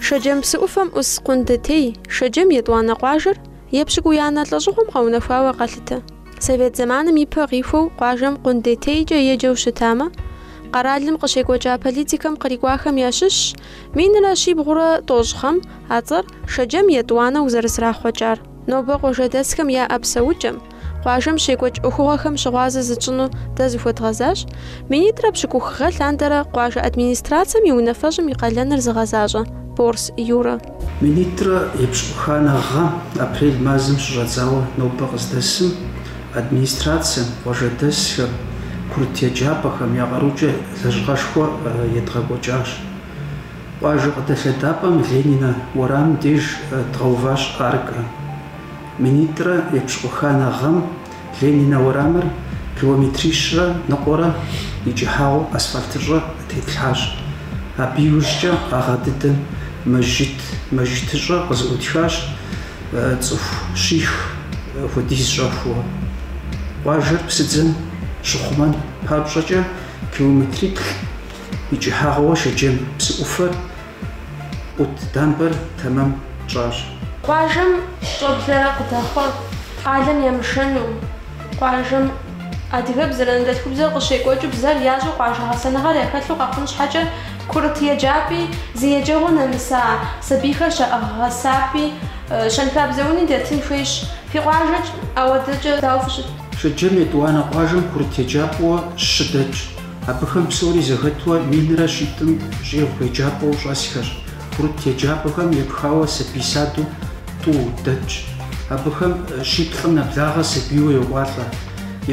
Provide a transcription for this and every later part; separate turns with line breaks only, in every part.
Шэджэм псы ӏуфэм ӏус Къундетей, Шэджэм етӏуанэ къуажэр, епщыкӏуиянэ лӏэщӏыгъуэм къэунэхуауэ къалъытэ. Совет зэманым ипэ къихуэу къуажэм Къундетейкӏэ еджэу щытамэ, къэралым къыщекӏуэкӏа политикэм кърикӏуахэм ящыщщ минрэ щибгъурэ тӏощӏ гъэм а цӏэр Шэджэм етӏуанэу зэрызэрахъуэкӏар. Нобэ къуажэдэсхэм яӏэ псэукӏэм, къуажэм щекӏуэкӏ ӏуэхугъуэхэм щыгъуазэ зытщӏыну дэ зыхуэдгъэзащ, минитӏрэ пщыкӏух гъэ лъандэрэ къуажэ администрацэм и унафэщӏым и къалэныр зыгъэзащӏэ Борс Юрэ. Минитӏрэ епщыкӏуханэ гъэм, апрель мазэм щыщӏэдзауэ нобэ къыздэсым, администрацэм, къуажэдэсхэм, курыт еджапӏэхэм я къарукӏэ лэжьыгъэшхуэ едгъэкӏуэкӏащ. Къуажэ къыдэлъэдапӏэм Ленинэ уэрамым деж дгъэуващ аркэ. Минитӏрэ епщыкӏуханэ гъэм Ленинэ уэрамыр километрищрэ ныкъуэрэ и кӏыхьагъуэ асфальтыщӏэ тетлъхьащ. Абы иужькӏэ а гъэ дыдэм мэжджыт, мэжджытыщӏэ къызыӏутхащ цӏыху щих хуэдиз щӏэхуэу. Къуажэр псыдзэм щыхъумэн папщӏэкӏэ километриплӏ и кӏыхьагъуэ Шэджэм псы ӏуфэр ӏут дамбэр тэмэм тщӏащ. Къуажэм щӏэблэ къыдэхъуэр къалэм ямышэну, къуажэм адыгэбзэр анэдэлъхубзэу къыщекӏуэкӏыу бзэр ящӏэу къуажэ гъэсэныгъэр яхэлъу къэхъун щхьэкӏэ курыт еджапӏи, зы еджэгъуэ нэмыса сабийхэр щаӏыгъ гъэсапӏи, щэнхабзэ уни дэтын хуейщ. Фи къуажэкӏэ ахуэдэкӏэ дауэ фыщыт? Шэджэм етӏуанэ къуажэм курыт еджапӏэуэ щы дэтщ. Абыхэм псори зэхэтуэ минрэ щитӏым щӏигъу еджапӏэу щӏэсхэр, курыт еджапӏэхэм епхауэ сабий саду тӏу дэтщ. Абыхэм щиплӏым нэблагъэ сабийуэ йокӏуалӏэ.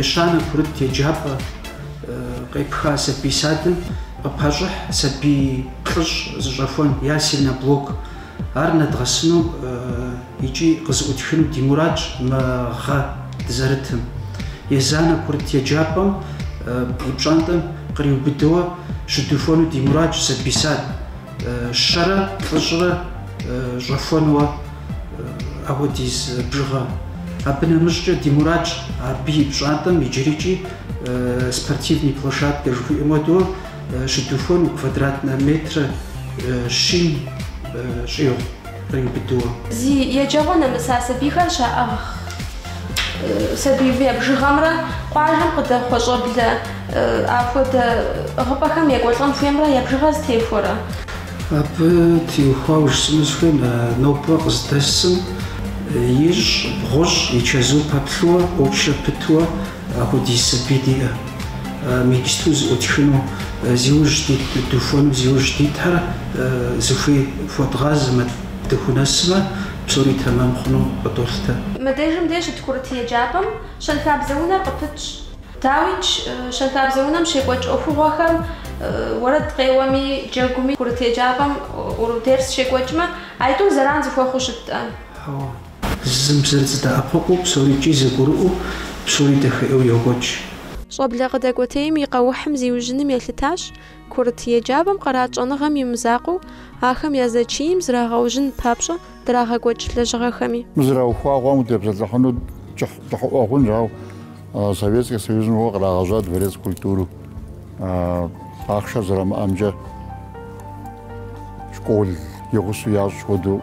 Ещанэ курыт еджапӏэ къепха сабий садым къыпащӏыхь сабий плӏыщӏ зыщӏэхуэн, ясельнэ блок, Ар нэдгъэсыну икӏи къызыӏутхыну ди мурадщ мы гъэ дызэрытым. Езанэ курыт еджапӏэм и пщӏантӏэм къриубыдэуэ щыдухуэну ди мурадщ сабий сад щэрэ плӏыщӏрэ щӏэхуэнуэ ахуэдиз бжыгъэ. Абы нэмыщӏкӏэ ди мурадщ абы и пщӏантӏэм иджырикӏи спортивный площадкэ жыхуиӏэм хуэдэу Щыдухуэну квадратнэ метрэ щин щӏигъу къриубыдууэ. Зи еджэгъуэ нэмыса сабийхэр щаӏыгъ сабийм я бжыгъэмрэ къуажэм къыдэхъуэ щӏэблэ апхуэдэ ӏыгъыпӏэхэм екӏуэлӏэн хуеймрэ я бжыгъэр зэтехуэрэ. Абы теухуауэ жысӏэну сыхуейм, нобэ къыздэсым ищӏ, бгъущӏ и чэзум пэплъууэ, очередь итууэ апхуэдиз сабий диӏэ. Мечту зэӏутхыну, зиужь духуэну, зиужь дитхэр зыхуей хуэдгъазэмэ, дыхунэсмэ, псори тэмэм хъуну къыдолъытэ. Мыдежым дей щыт курыт еджапӏэм щэнхабзэ унэр къыпытщ. Дауикӏ, щэнхабзэ унэм щекӏуэкӏ ӏуэхугъуэхэм уэрэд къеуэми, джэгуми, курыт еджапӏэм урок, дерс щекӏуэкӏмэ, а тӏур зэран зэхуэхъуу щыткъэ? Зым зыр дэӏэпыкъуу, псорикӏи зэгурыӏуэу, псори дахэ ӏейуэ йокӏуэкӏ. Щӏэблэ къыдэкӏуэтейм и къэухьым зиужьыным елъытащ курыт еджапӏэм къарит щӏэныгъэм и мызакъуэу, ахэм я зэчийм зрагъэужьын папщӏэ драгъэкӏуэкӏ лэжьыгъэхэми. Мыр зэраухуагъам утепсэлъыхьыну кӏыхьыӏуэ хъунщ, ауэ Советскэ Союзым щыгъуэ кърагъэжьа дворец культуру. Ахъшэр зэрамыӏэмкӏэ школ и гъусэу ящӏ хуэдэу,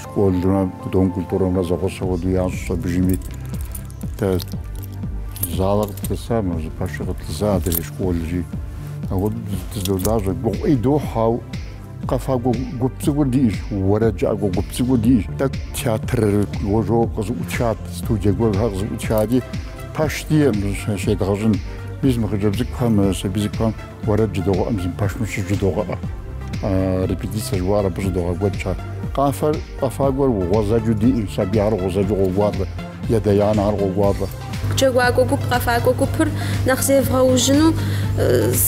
школымрэ Дом культурэмрэ зэгъусэу хуэдэу ящӏа абдежми. Дэ залэ къытлъыса, мы зы пэши къытлъыса адрейр школщи. Апхуэдэу дызэдолажьэ, гугъу ӏей дохь, ау Къэфакӏуэ гуп цӏыкӏур диӏэщ, уэрэджыӏакӏуэ гуп цӏыкӏур диӏэщ. Тӏэкӏу театр гуэр къызэӏутхат, студие гуэрхэр къызэӏутхати, пэш диӏэм щедгъэщӏын. Мис мы хъыджэбз цӏыкӏухэм, сабий цӏыкӏухэм уэрэд жыдогъэӏэ, мы зы пэшым щыжыдогъэӏэ. Репетицэ жыхуаӏэр абы щыдогъэкӏуэкӏ ар. Къафэр, къэфакӏуэр гъуэзэджу диӏэщ, сабийхэр гъуэзэджу къокӏуалӏэ. Я адэ-анэхэр къокӏуалӏэ. Джэгуакӏуэ гуп, къэфакӏуэ гупыр нэхъ зевгъэужьыну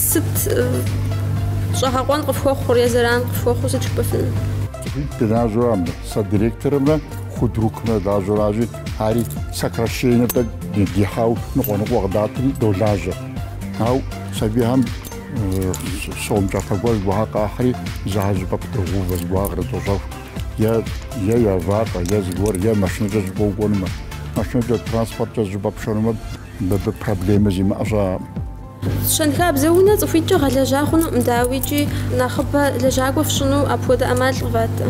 сыт щӏэгъэкъуэн къыфхуэхъур е зэран къыфхуэхъур сыт жыпӏэфынур? Цӏыхуитӏ дылажьэу ар мыр. Сэ директорымрэ худрукымрэ лажьэу аращи, ари сокращение тӏэкӏу дихьау ныкъуэ-ныкъуэ къыдатри долажьэ. Ау сабийхэм сом кӏапэ гуэр зыгуэрхэр къахьри, зы а щӏыпӏэ къыдогъэувэ зыгуэрхэр кърыдощэху. е е я фащэ, е зыгуэр, е машинэкӏэ зыщӏыпӏэ укӏуэнумэ, машинэкӏэ, транспорткӏэ зыщӏыпӏэ пшэнумэ, мыбы проблемэ зимыӏэ щыӏэкъым. Щэнхабзэ унэ цӏыхуитӏкӏэ гъэлэжьа хъунукъым, дауи, икӏи нэхъыбэ лэжьакӏуэ фщӏыну апхуэдэ ӏэмал къыватрэ.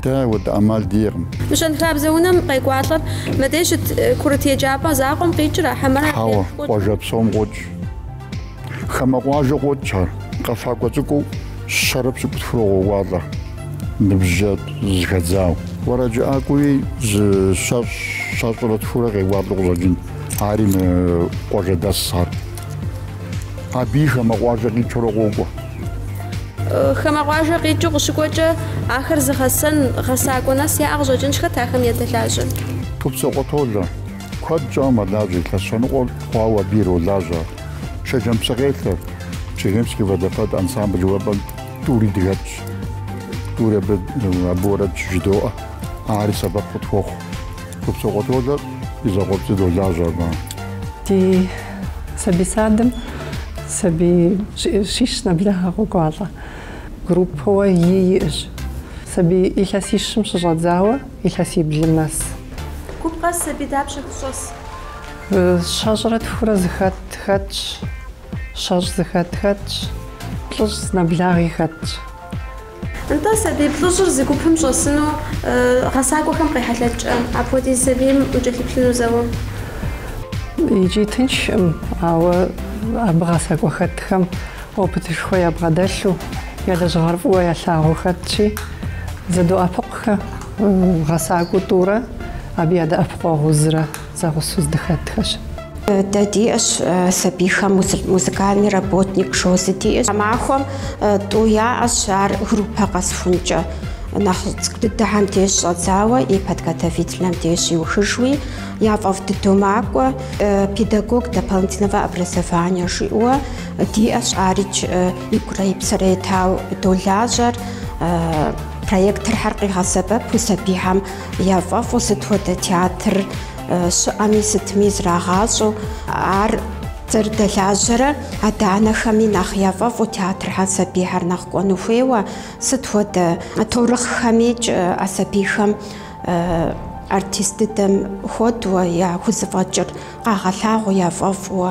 Дэ апхуэдэ ӏэмал диӏэкъым. Мы щэнхабзэ унэм къекӏуалӏэр мыдей щыт курыт еджапӏэ закъуэм къикӏыр ара хьэмэрэ а лейм къокӏ. Хьэуэ, къуажэ псом къокӏ. Хамэ къуажэ къокӏ ар. Къэфакӏуэ цӏыкӏуу щэрэ пщыкӏутхурэ къоуалӏэ, ныбжькӏэ зэхэдзауэ. Уэрэджыӏакӏуи зы щэщӏ, щэщӏрэ тхурэ къекӏуалӏэу къыщӏэкӏын. Ари мы къуажэдэс ар. Абыи хамэ къуажэ къикӏыурэ къокӏуэ. Хамэ къуажэ къикӏыу къыщыкӏуэкӏэ, ахэр зыгъэсэн, гъэсакӏуэ нэс яӏэ къыщӏэкӏынщ. Хэт ахэм я дэлажьэр? Тупцокъуэ Толэ. Куэд щӏауэ мэлажьэ илъэс щэныкъуэр хъуауэ абы иролажьэ Шэджэм псыкъелъэр, Чегемский водопад ансамбль уэфӏэм тӏури дыхэтщ. Тӏури абы абы уэрэд щыжыдоӏэ, ари сэбэп къытхуохъу. Тупцокъуэ Толэр и закъуэпцӏий долажьэ абы. Ди сабий садым сабий щищ нэблагъэ къокӏуалӏэ. Группэуэ ий иӏэщ. Сабий илъэсищым щыщӏэдзауэ. Илъэсиблым нэс. Гуп къэс сабий дапщэ фщӏэс? Щэщӏрэ тхурэ зыхэт хэтщ, щэщӏ зыхэт хэтщ, плӏыщӏ зынэблагъи хэтщ. Нтӏэ, сабий плӏыщӏыр зы гупым щӏэсыну гъэсакӏуэхэм къехьэлъэкӏкӏэ, апхуэдиз сабийм укӏэлъыплъыну зэуэ. Икӏи тыншкъым, ауэ абы гъэсакӏуэ хэтхэм. Опытышхуэ ябгъэдэлъу я лэжьыгъэр фӏыуэ ялъагъуу хэтщи, зэдоӏэпыкъухэ, гъэсакӏуэу тӏурэ абы ядэӏэпыкъуэгъуу зырэ зэгъусэу здыхэтхэщ. Дэ диӏэщ сабийхэм музыкальный работник жаӏэу зы диӏэщ. Тхьэмахуэм тӏэу яӏэщ, ар группэ къэсхункӏэ нэхъ цӏыкӏу дыдэхэм деж щыщӏэдзауэ и подготовительнэм деж иухыжуи, яфӏэфӏ дыдэу макӏуэ, педагог дополнительного образования жиӏэуэ. Диӏэщ, арикӏ игурэ и псэрэ етауэ долажьэр. Проекторхэр къигъэсэбэпу сабийхэм яфӏэфӏу сыт хуэдэ театр щыӏэми, сытми зрагъащӏэу. Ар зэрыдэлажьэрэ адэ-анэхэми нэхъ яфӏэфӏу театрхэр сабийхэр нэхъ кӏуэну хуейуэ, сыт хуэдэ таурыхъхэмикӏ а сабийхэм артист дыдэм хуэдуэ я хузэфӏэкӏыр къагъэлъагъуу, яфӏэфӏуэ.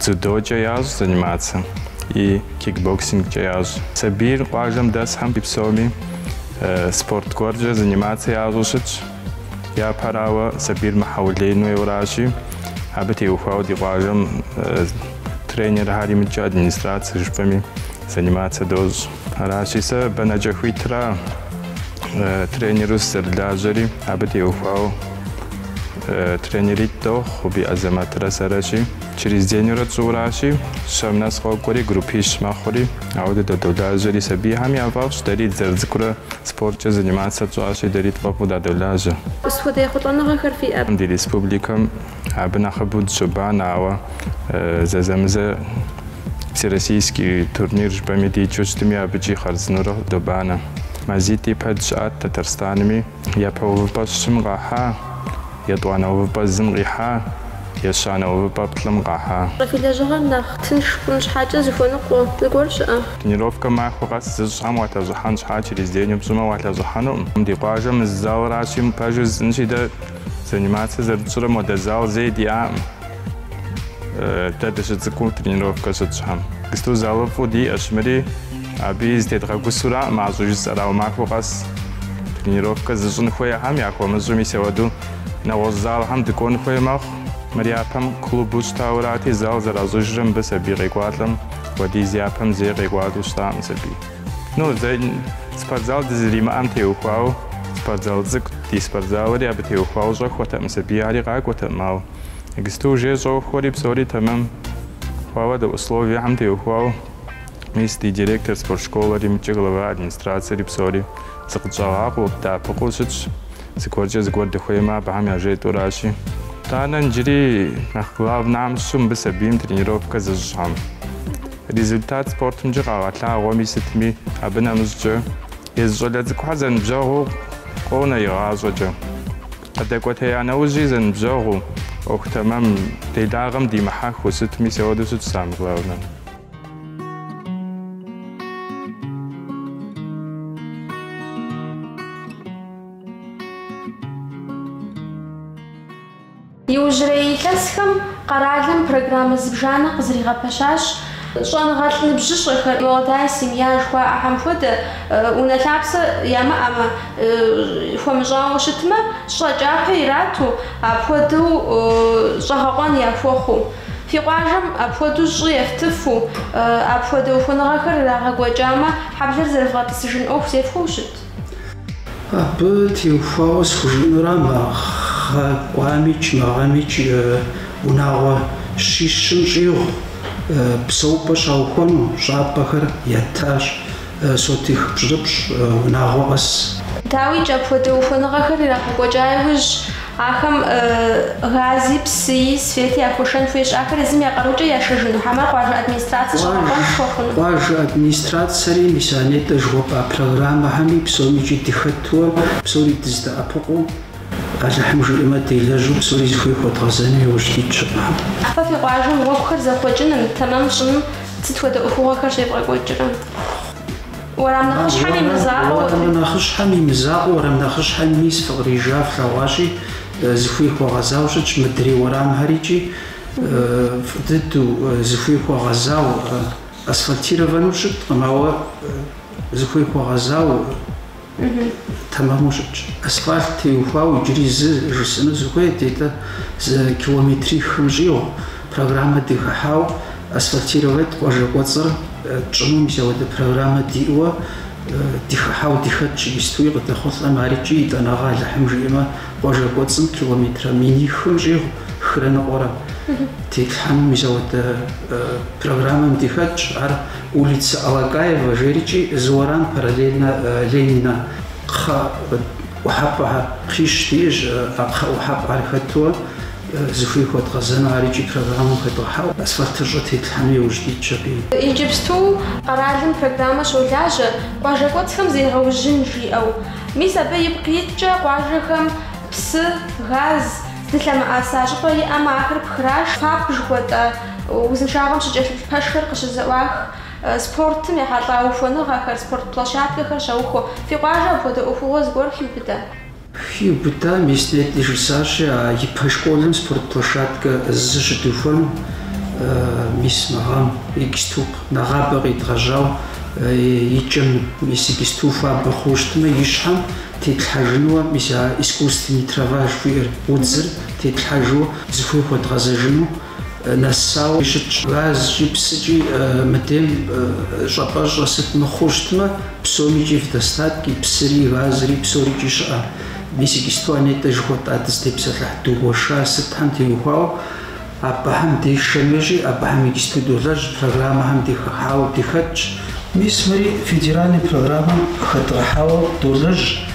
Дзюдокӏэ ящӏ занимацэ и кикбоксингкӏэ ящӏ. Сабийр къуажэм дэсхэм и псоми спорт гуэркӏэ занимацэ ящӏу щытщ. Япэрауэ, сабийр мыхьэулеину хуейуэ аращи, абы теухуауэ ди къуажэм тренерхэр и мыкӏэ администрацэ жыпӏэми занимацэ дощӏ. Аращи, сэ бэнэкӏэ хуитра тренеру сызэрылажьэри, абы теухуауэ. Тренеритӏ дохъу Би Азэмэтрэ сэрэщи. Через деньурэ тщӏыуращи, щэм нэс къокӏуэри, группищ мэхъури. Ауэ дэ дадолажьэри. Сабийхэм я фӏэфӏщ, дэри дызэрыцӏыкӏурэ спорткӏэ занимацца тщӏащи, дэри тфӏэфӏу дадолажьэ. Сыт хуэдэ ехъулӏэныгъэхэр фиӏэ? Ди республикэм абы нэхъыбэу дыщобанэ, ауэ зэзэмызэ всероссийский турнир жыпӏэми дикӏыу щытми, абыкӏи хъарзынэурэ добанэ. Мазитӏ ипэ дыщыӏат Тэтэрстанми. Япэ увыпӏэ щым къахьа, етӏуанэ увыпӏэ зым къихьа, ещанэ увыпӏэ плӏым къахьа. Фи лэжьыгъэр нэхъ тынш хъун щхьэкӏэ зыхуэныкъуэ зыгуэр щыӏэ? Тренировкэ махуэ къэс зыщӏхэм уалъэщӏыхьэн щхьа через день упщӏымэ уалъэщӏыхьэнукъым. Ди къуажэм мы зы залращи, мы пэжыр жысӏэнщи дэ занимацэ зэрытщӏрэ мыхуэдэ зал зэи диӏакъым. Дэ дыщыцӏыкӏуу тренировкэ щытщӏхэм, гысту залыфӏу диӏэщ, мыри абыи зытедгъэгусураӏым, мащӏэу жысӏэрауэ, махуэ къэс тренировкэ зыщӏын хуейхэм яхуэмыщӏу, мис ауэду нэгъуэщӏ залхэм дыкӏуэн хуей мэхъу. Мыр япэм клубу щытаурати, зал зэращӏыжрэ мыбы сабий къекӏуалӏэм хуэдиз япэм зэи къекӏуалӏэу щытакъым сабий. Ну, зэ спортзал дызэримыӏэм теухуауэ, спортзал цӏыкӏут, ди спортзалри абы теухуауэ щӏэхуэртэкъым сабий, ари къакӏуэтэкъым, ауэ. Гысту уже щӏохуэри псори тэмэм хъуауэ дэ условиехьэм теухуауэ мис ди директор спорт школэри мыкӏи глава администрацэри псори зыкъытщӏагъакъуэу, дэӏэпыкъуу щытщ. Зыгуэркӏэ зыгуэр дыхуеймэ абыхэм яжетӏэуращи. Итӏанэ иджыри нэхъ главнахэм щыщу мыбы сабийм тренировкэ зыщӏхэм результат спортымкӏэ къагъэлъагъуэми сытми абы нэмыщӏкӏэ езы щӏалэ цӏыкӏухэр зэныбжьэгъуу къонэ игъащӏэкӏэ. Къыдэкӏуэтея нэужьи зэныбжьэгъуу, ӏуэху тэмэм, делагъэм димыхьэхыу, сыт, мис ауэду щытщ самэ главнэ. Иужьрей илъэсхэм къэралым программэ зыбжанэ къызригъэпэщащ. Щӏэныгъэлӏ ныбжьыщӏэхэр, молодая семья жыхуаӏэхэм хуэдэ, унэ лъапсэ ямыӏэмэ, Хуэмыщӏауэ щытмэ, щӏы кӏапэ ирату, апхуэдэу щӏэгъэкъуэн яхуэхъуу. Фи къуажэм апхуэдэу щӏы ефтыфу, апхуэдэ ухуэныгъэхэр ирагъэкӏуэкӏамэ, хьэблэр зэрывгъэтӏысыжын ӏуэху зефхуэу щыт? Абы теухуауэ схужыӏэнура мы гъэ кӏуамикӏ мы гъэмикӏ унагъуэ щищым щӏигъу псэупӏэ щаухуэну щӏапӏэхэр ятащ. Сотих пщӏырыпщӏ, унагъуэ къэс. Дауикӏ, апхуэдэ ухуэныгъэхэр ирагъэкӏуэкӏа иужь, ахэм гази, псыи, свети яхуэшэн хуейщ, ахэр езым я къарукӏэ яшэжыну хьэмэ къуажэ администрацэ щӏэгъэкъуэн тхуэхъуну? Къуажэ администрацэри, мис а нетӏэ жыхуэпӏа программэхэми псомикӏи дыхэтуэ, псори дыздэӏэпыкъуу, Алыхьым жиӏэмэ, делэжьу псори зыхуей хуэдгъэзэну иужь дитщ. Фэ фи къуажэм гъуэгухэр зэхъуэкӏыным, тэмэм щӏыным сыт хуэдэ ӏуэхугъуэхэр щевгъэкӏуэкӏрэ? Уэрам нэхъыщхьэм и мызакъуэу. Уэрам нэхъыщхьэм и мызакъуэ, уэрам нэхъыщхьэм мис фыкърижа флъэгъуащи, зыхуей хуэгъэзау щытщ мыдрей уэрамхэр икӏи, фӏы дыдэу, зыхуей хуэгъэзау асфальтированэу щыткъым, ауэ зыхуей хуэгъэзау. тэмэму щытщ. Асфальт теухуау иджыри зы жысӏэну сыхуейт, дэ зы километрихым щӏигъу программэ дыхыхьау асфальтировать къуажэ кӏуэцӏыр тщӏыну, мис ауэдэ программэ диӏуэ дыхыхьау дыхэтщ иджыстуи къыдэхъулӏэм ари икӏи етӏанэгъэ Алыхьым жиӏэмэ къуажэ кӏуэцӏым километрэ минихым щӏигъу хырэ ныкъуэрэ тетлъхьэну, мис ауэдэ программэм дыхэтщ ар. Улица Алакаева жери икӏи зы уэрам параллельно Ленина кхъэ ӏухьэпӏэхэр кхъищ диӏэщи, а кхъэ ӏухьэпӏэхэр хэтуэ зыхуей хуэдгъэзэну ар икӏи программэм хэдгъэхьэу асфальтыщӏэ тетлъхьэну иужь дитщ абыи. Иджыпсту къэралым программэ щолажьэ къуажэ кӏуэцӏхэм зегъэужьын жиӏэу. Мис абы ипкъ иткӏэ къуажэхэм псы, газ, здылъэмыӏаса щӏыпӏэ иӏэмэ ахэр пхраш, ФАП жыхуэтӏэ, Узыншагъэм щыкӏэлъыплъ пэшхэр къыщызэӏуах спортым ехьэлӏа ухуэныгъэхэр, спорт площадкэхэр щаухуэ. Фи къуажэ апхуэдэ ӏуэхугъуэ зыгуэр хиубыда? Хиубыда, мис нетӏэ жысӏащи, а япэ школым спорт площадкэ зы щыдухуэну мис мы гъэм иджысту нэгъабэ къедгъэжьау икӏэм, мис иджысту хуабэ хъууэ щытмэ, и щхьэм тетлъхьэжынуэ, мис а искусственный трава жыхуиӏэр, удзыр тетлъхьэжу, зыхуей хуэдгъэзэжыну. нэсауэ щытщ. Газкӏи псыкӏи мыдем щӏапӏэщӏэ сыт мыхъуу щытмэ, псомкӏи в достатке, псыри, газри, псорикӏи щыӏэ. Мис иджысту а нетӏэ жыхуэтӏа дызытепсэлъыхь дгуэша сытхэм теухуауэ, абыхэм дэшэн хуейщи, абыхэм иджысту долэжь, программэхэм дихыхьауэ дыхэтщ. Мис мыри федеральный программэм хэдгъэхьауэ долэжь,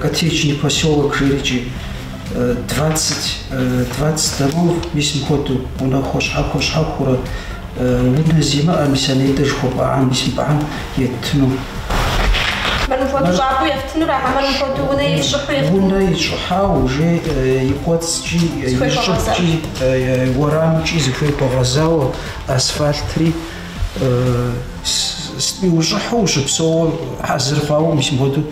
Коттеджный посёлок жери икӏи. Двадцать, двадцать домов, мис мыхуэдэу, унэхэу щхьэхуэ щхьэхуурэ, унэ зимыӏэ, мис а нетӏэ жыхуэпӏахэм, мис мыбыхэм еттыну. Мыр мыхуэдэу щӏапӏэу ефтынур, хьэмэрэ мыхуэдэу унэ ищӏыхьау ефтынур. Унэ ищӏыхьау, уже и кӏуэцӏкӏи, и щӏыбкӏи, уэрамкӏи зыхуей хуэгъэзауэ, асфальтри ущӏыхьэу ущыпсэууэ хьэзыр хъуауэ, мис мыхуэдэу.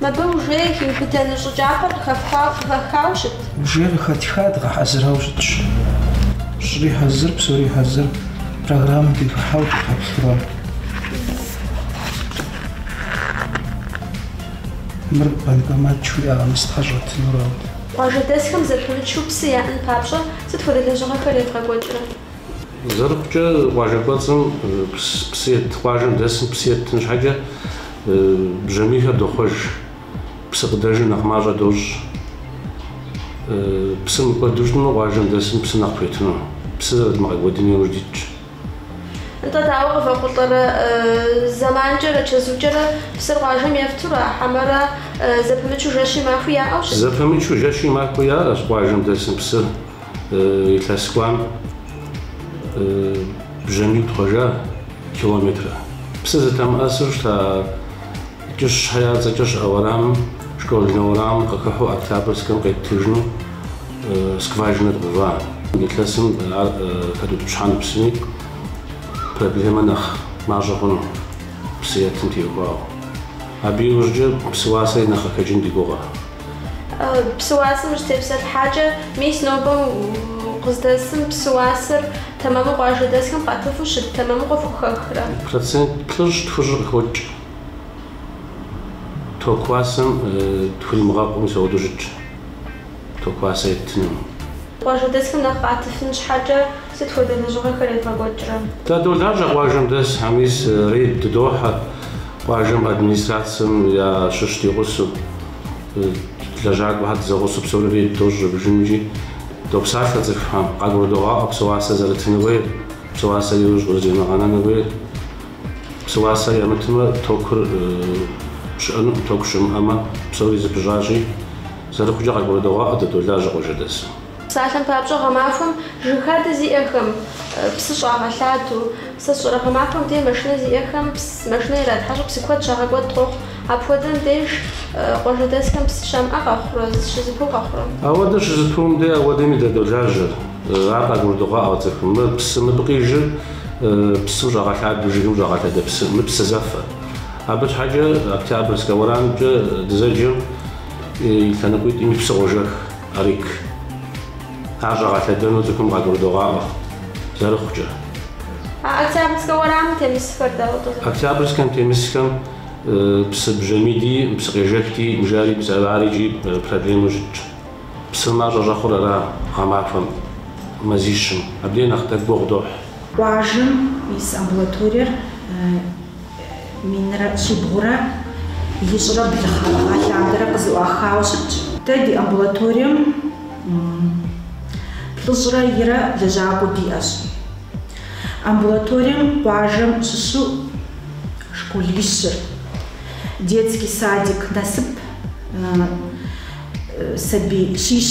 Мыбы уже иубыдыну щӏы кӏапэр къыхэфхауэ къыхэхауэ щыт? Уже къыхэтха, дгъэхьэзырауэ щытщ. Щӏыри хьэзыр, псори хьэзыр, программэ дыхыхьэу дыпэплъурэ. Мыр банкомат жиӏэкъым, зытхьэщӏэтынурэут. Къуажэдэсхэм зэпымычу псы яӏэн папщӏэ сыт хуэдэ лэжьыгъэхэр едгъэкӏуэкӏрэ? Зэрыхъукӏэ къуажэ кӏуэцӏым псы ет, къуажэм дэсым псы еттын щхьэкӏэ бжьамийхэр дохъуэж, псы къыдэжыр нэхъ мащӏэ дощӏ. Псы мыкӏуэду щытмэ, къуажэм дэсым псы нэхъ пхуетыну, псы зэрыдмыгъэкӏуэдын яужь дитщ. Нтӏэ, дауэ къывэхъулӏэрэ? Зэманкӏэрэ чэзукӏэрэ псыр къуажэм ефтура, хьэмэрэ зэпымычу жэщи махуи яӏэу щыт? Зэпымычу жэщи махуи яӏэщ къуажэм дэсым псыр. Илъэс кӏуам бжьамий тхъуэжа километрэ. Псы зытэмыӏэсу щыта Кӏыщхэ я цӏэкӏэ щыӏэ уэрамым, школьнэ уэрамым къыхыхьу Октябрьскэм къеттыжыну скважинэ дгъэува. Илъэсым ар хэдутӏыпщхьэну псыми проблемэ нэхъ мащӏэ хъуну, псы етым теухуауэ. Абы иужькӏэ псы уасэри нэхъ къыхэкӏын ди гугъэ. Псы уасэм ущытепсэлъыхьакӏэ, мис нобэм къыздэсым псы уасэр тэмэму къуажэдэсхэм къатыфу щыт тэмэму къыфхухэхрэ? Процент плӏыщӏ тхущӏыр къыхокӏ. Ток уасэм тхуримыгъэкъуу мис ауэдэу щытщ ток уасэ еттыным. Къуажэдэсхэм нэхъ къатыфын щхьэкӏэ. Сыт хуэдэ лэжьыгъэхэр евгъэкӏуэкӏрэ? Дадолажьэ къуажэм дэсхэм, мис рейд дыдохьэ къуажэм администрацэм я щыщ ди гъусэу. Лэжьакӏуэхэр дызэгъусэу псори рейд дощӏ зэбжымкӏи, допсалъэ цӏыхухэм, къагурыдогъаӏуэ псы уасэ зэрытыну хуейр, псы уасэр иужь къызэримыгъэнэну хуейр. Псы уасэр ямытмэ, токур щыӏэнукъым, току щымыӏэмэ, псори зыпыщӏащи, зэрыхъукӏэ къагурыдогъаӏуэ Дадолажьэ къуажэдэсым. Псалъэм папщӏэ, гъэмахуэм жыг хадэ зиӏэхэм псы щӏагъэлъадэу, сэ сщӏэрэ, гъэмахуэм де машинэ зиӏэхэм машинэ иратхьэщӏу псы куэд щагъэкӏуэд къохъу. Апхуэдэм деж къуажэдэсхэм псы щамыӏэ къэхъурэ, щызэпыу къэхъурэ? Ауэдэ щызэпыум де ауэдэми дадолажьэ. Ар къагурыдогъаӏуэ цӏыхум, мы псы мыбы къижыр псы щӏагъэлъадэу, жыгым щӏагъэлъадэ псы, мы псы зэфэ. Абы щхьэкӏэ Октябрьскэ уэрамымкӏэ дызэджэм и лъэныкъуитӏыми псы къожэх. Арык. Ар щӏагъэлъэдэну цӏыхум къагурыдогъаӏуэ, зэрыхъукӏэ. А Октябрьскэ уэрамым темысхэр дауэ къызэхуэхъу? Октябрьскэм темысхэм псы бжьамийти, псы къежэхти, бжари, псэрари икӏи проблемэу щытщ. Псыр мащӏэ щӏэхъур ара гъэмахуэм, мазищым. Абдей нэхъ тӏэкӏу гугъу дохь. Къуажэм и амбулаториер. Минрэ щибгъурэ ищӏрэ блы гъэ лъандэрэ къызэӏуахауэ щытщ. Дэ ди амбулаторием плӏыщӏрэ ирэ лэжьакӏуэ диӏэщ. Амбулаторием къуажэм щыщу школищыр, детский садик насып сабий щищ.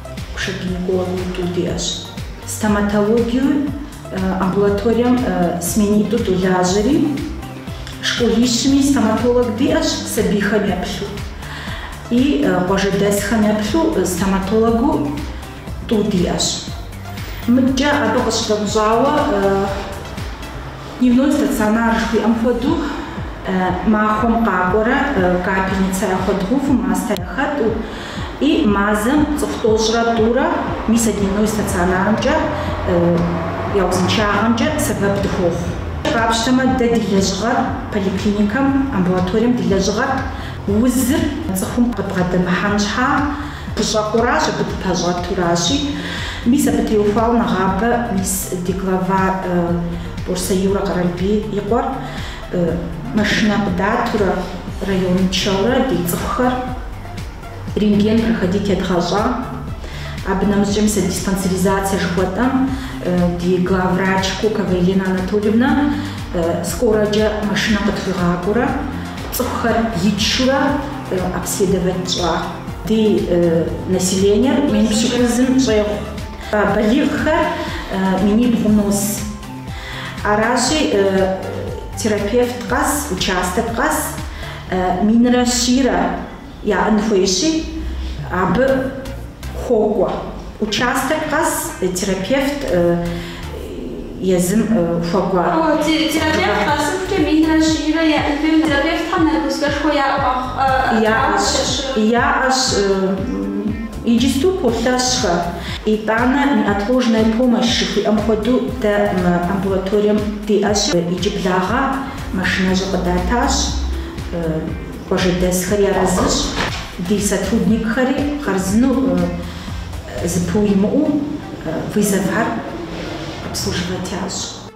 Кушетникова Нитӏу диӏэщ. Стоматологием амбулаторием сменитӏу долажьэри, школищми стоматолог диӏэщ сабийхэм еплъу. И къуажэдэсхэм еплъу стоматологыу тӏу диӏэщ. Мыдкӏэ абы къыщыдэмыщӏауэ Дневной стационар жыхуиӏэм хуэдэу махуэм къакӏуэрэ капельницэ яхуэдгъэуву, мастэ яхэтӏу и мазэм цӏыху тӏощӏрэ тӏурэ мис а дневной стационарымкӏэ я узыншагъэмкӏэ сэбэп дыхуохъу. Къапщтэмэ, дэ ди лэжьыгъэр поликлиникэм, амбулаторием ди лэжьыгъэр узыр цӏыхум къыбгъэдэмыхьэн щхьа. Дыщӏэкъуращ, абы дыпэщӏэтуращи, мис абы теухуауэ нэгъабэ мис ди глава Борсэ Юрэ Къэралбий и къуэр машинэ къыдатурэ район тшэурэ ди цӏыхухэр рентген проходить едгъэщӏа. Абы нэмыщӏкӏэ мис а диспансеризацэ жыхуэтӏэм ди главврач Кокова Елена Анатольевна скорэкӏэ машинэ къытхуигъакӏуэурэ цӏыхухэр итшурэ обследовать тщӏа. Ди населениер мин пщыкӏузым щӏегъу. Балигъхэр минибгъу нос. Аращи, терапевт къэс, участок къэс минрэ щийрэ яӏэн хуейщи, абы хуокӏуэ. Участок къэс терапевт. езым хуэкӏуа яӏэщ, иджысту полъэщхэ, итӏанэ неотложная помощь жыхуиӏэм хуэдэу дэ мы амбулаторием диӏэщ. Иджыблагъэ машинэщӏэ къыдатащ, къуажэдэсхэри арэзыщ, ди сотрудникхэри хъарзынэу зыпыуимыӏэу. Вызовхэр обслуживать ящӏ.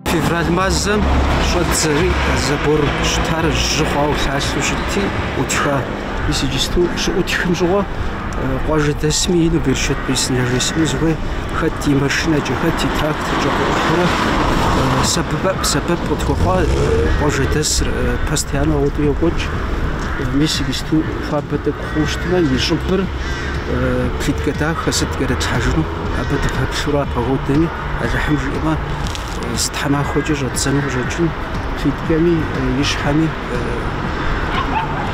Февраль мазэм щӏэдзэри, забор щытар жьы хъуауэ лъалъэу щытти, ӏутха. Мис иджысту щыӏутхым щыгъуэ къуажэдэсми ину берычэт бесын яжесӏэну сыхуейщ, хэт и машинэкӏэ, хэт и тракторкӏэ къыӏухьэурэ сэбэп къытхуэхъуа къуажэдэсыр постоянно ауэдэу йокӏуэкӏ. Мис иджысту хуабэ тӏэкӏу хъуу щытмэ, и щӏыбыр плитка дахэ сыт кӏэрытлъхьэжыну, абы дыпэплъурэ а погодэми, Алыхьым жиӏэмэ, зы тхьэмахуэкӏэ щӏэддзэну къыщӏэкӏын плиткэми и щхьэми.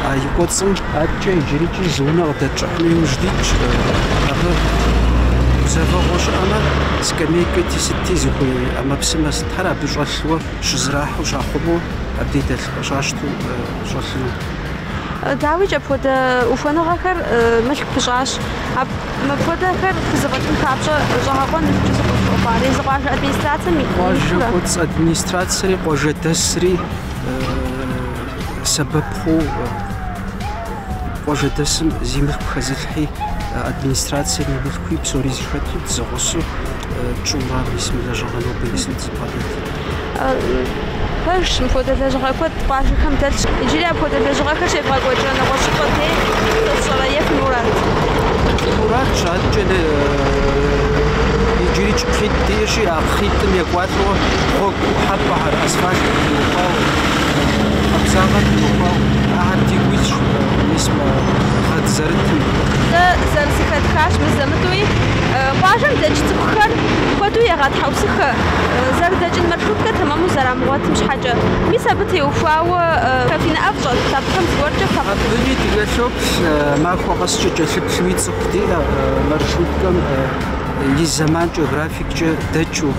А и кӏуэцӏым адэкӏэ иджырикӏи зы унэ къыдэтщӏыхьыну иужь дитщ. Абы гузэвэгъуэ щыӏэмэ, скамейкэти сытти зыхуей ӏэмэпсымэ сытхэр абы щӏэлъуэ щызэрахьэу щахъумэу абдей дэлъу щащтэу щӏэлъыну. Дауикӏ, апхуэдэ ухуэныгъэхэр мылъку пыщӏащ. Мыпхуэдэхэр фхузэфӏэкӏын папщӏэ щӏэгъэкъуэн иужькӏэ сыкъыщӏыхъуар езы къуажэ администрацэм и къуажэ кӏуэцӏ администрацэри къуажэдэсри сэбэп хъуу къуажэдэсым зи мылъку хэзылъхьи, администрацием и мылъкуи псори зэхэту дызэгъусу тщӏыурэ мис мы лэжьыгъэ нобэ мис дызыбгъэдэт. Пэжщ, мыпхуэдэ лэжьыгъэ куэд къуажэхэм дэлъщ. Иджыри апхуэдэ лэжьыгъэхэр щекӏуэкӏыу пӏэ нэгъуэщӏыпӏэ дей, сэ сщӏэрэ, е фи мурат? Муратщ адэкӏэ, иджырикӏ кхъитӏ диӏэщи, а кхъитӏым екӏуалӏэу гъуэгу ӏухьэпӏэхэр, Асфальтыр къиухуауэ, машинэм къабзагъэр къиухуауэ, ахэр дигу илъщ мыбы мис мы гъэ дызэрытым. Дэ зэрызэхэтхащ мызэ-мытӏуи. Къуажэм дэкӏ цӏыхухэр куэду егъэтхьэусыхэ, зэрыдэкӏын маршруткэ тэмэму зэрамыгъуэтым щхьэкӏэ. Мис абы теухуауэ фи нэӏэ щӏэт, абыхэм зыгуэркӏэ фэ къыфӏыщӏ. Абыи дыкӏэлъоплъ, махуэ къэскӏэ кӏэлъыплъуи цӏыху диӏэ маршруткэм и зэманкӏэ, графиккӏэ дэкӏыу,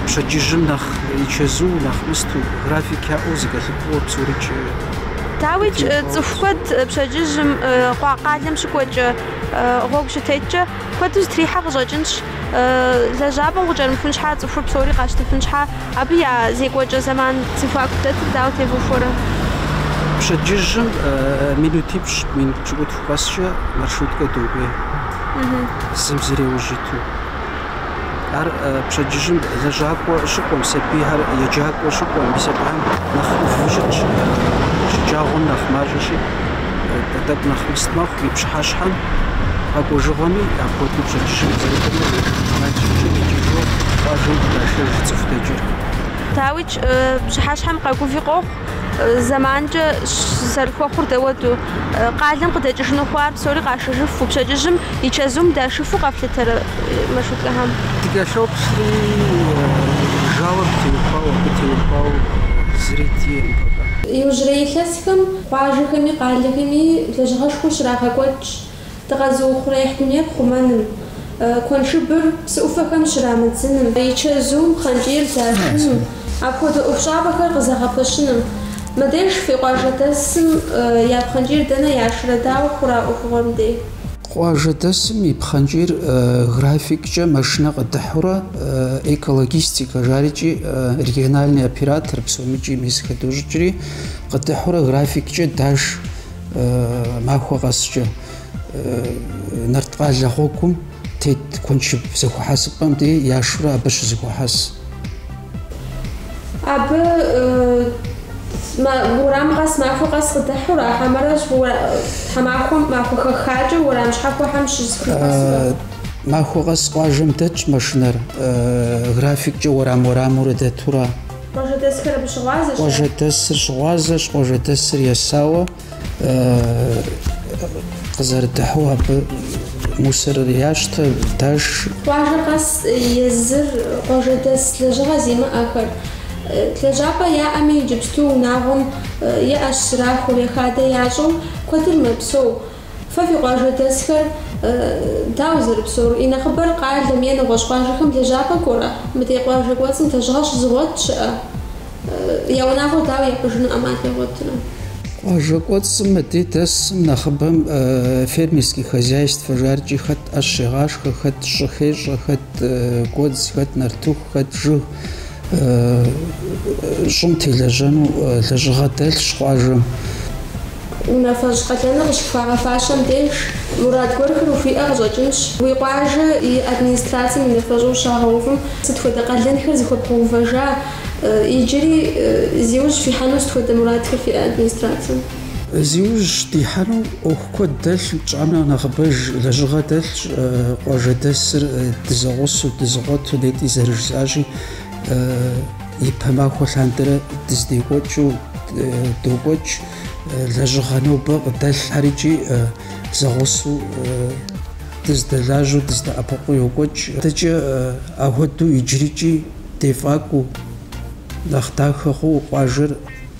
пщэдджыжьым нэхъ. И чэзу, нэхъ густу, график яӏэу зэкӏэлъыкӏуэу псорыкӏ. Дауикӏ, цӏыху куэд пщэдджыжьым, къуа къалэм щыкӏуэкӏэ, гъуэгу щытеткӏэ, куэду зэтрихьэу къыщӏэкӏынщ. Лэжьапӏэм къыкӏэрымыхун щхьа, цӏыхур псори къащтыфын щхьа, абы я зекӏуэкӏэ зэман зэхуаку дэтыр дауэ тевухуэрэ? Пщэдджыжьым минутипщӏ, минут пщыкӏутху къэскӏэ маршруткэ докӏуей, зым зыр иужь иту. Ар пщэдджыжьым лэжьакӏуэ щыкӏуэм, сабийхэр еджакӏуэ щыкӏуэм, мис абыхэм нэхъ ӏуву щытщ. Шэджагъуэм нэхъ мащӏэщи, тӏэкӏу нэхъ густ мэхъу и пщыхьэщхьэм. Къэкӏуэжыгъуэми апхуэдэу пщэдджыжьым зэрыкӏуэми мис а щӏыкӏэм икӏыжу къуажэм къыдашэж цӏыху дэкӏыр. Дауикӏ, пщыхьэщхьэм къэгуви къохъу, Зэманкӏэ зэрыхуэхъур дауэду, къалэм къыдэкӏыжыну хъуар псори къашэжыфу, пщэдджыжьым и чэзум дашыфу къэфлъытэрэ маршруткэхэм? Дыкӏэлъоплъри, жэуап теухуауэ, абы теухуауэ зыри диӏэкъым пока. Иужьрей илъэсхэм къуажэхэми къалэхэми лэжьыгъэшхуэ щрагъэкӏуэкӏщ. Дыкъэзыухъуреихь дунейр хъумэным, куэншыбыр псы ӏуфэхэм щрамыдзыным, и чэзум пхъэнкӏийр дашыным, апхуэдэ ӏуэхущӏапӏэхэр къызэгъэпэщыным. Мыбдеж фи къуажэдэсым я пхъэнкӏийр дэнэ яшрэ, дауэ хъурэ а ӏуэхугъуэм дей? Къуажэдэсым и пхъэнкӏийр графиккӏэ машинэ къыдыхьурэ, экологистикэ, жарикӏи региональный оператор, псомикӏи мис хэдощӏыкӏри, къыдыхьурэ графиккӏэ даш. Махуэ къэскӏэ Нарткъалэ гъуэгум тет куэншыб зэхуэхьэсыпӏэм де яшурэ абы щызэхуахьэс. Абы уэрам къэс махуэ къэс къыдыхьу ара хьэмэрэ тхьэмахуэм махуэ хэхакӏэ уэрам щхьэхуэхэм щызэхуахьэсурэ? Махуэ къэс къуажэм дэтщ машинэр, графиккӏэ уэрам-уэрамурэ дэтурэ. Къуажэдэсхэр абы щыгъуазэщ. Къуажэдэсыр щыгъуазэщ, къуажэдэсыр есауэ къызэрыдыхьу абы мусорыр ящтэ, даш. Къуажэ къэс езыр къуажэдэс лэжьыгъэ зимыӏэхэр. Лэжьапӏэ яӏэми, иджыпсту унагъуэм е ӏэщ зэрахуэу, е хадэ ящӏэу куэдыр мэпсэу. Фэ фи къуажэдэсхэр, дауэ зэрыпсэур, и нэхъыбэр къалэм е нэгъуэщӏ къуажэхэм лэжьапӏэ кӏуэрэ? Мыдей къуажэ кӏуэцӏым лэжьыгъэ щызыгъуэт щыӏэ? Я унагъуэр дауэ япӏыжыну ӏэмал ягъуэтрэ? Къуажэ кӏуэцӏым мыдей дэсым нэхъыбэм фермерские хозяйствэ жарикӏи хэт ӏэщ щегъашхэ, хэт щӏы хещӏэ, хэт гуэдз, хэт нартыху, хэт жыг, щӏым телэжьэну лэжьыгъэ дэлъщ къуажэм. Унафэщӏ къалэныр къыщыпхуагъэфащэм деж, мурад гуэрхэр ухуиӏэ къыщӏэкӏынщ. Уи къуажэ и администрацэм унафэщӏу ущагъэувым, сыт хуэдэ къалэнхэр зыхуэбгъэувыжа, иджыри зи ужь фихьэну сыт хуэдэ мурадхэр фиӏэ администрацэм? Зи ужь дихьэну ӏуэху куэд дэлъщ, тщӏам нэхърэ нэхъыбэж лэжьыгъэ дэлъщ, къуажэдэсыр дызэгъусу, дызэкъуэту, нетӏи зэрыжысӏащи, ипэ махуэ лъандэрэ дыздекӏуэкӏыу докӏуэкӏ, лэжьыгъэ нобэ къыдэлъхэрикӏи зэгъусу дыздэлажьэу, дыздэӏэпыкъуу йокӏуэкӏ. Адэкӏэ ахуэдэу иджырикӏи дефӏакӏуэу, нэхъ дахэ хъууэ къуажэр.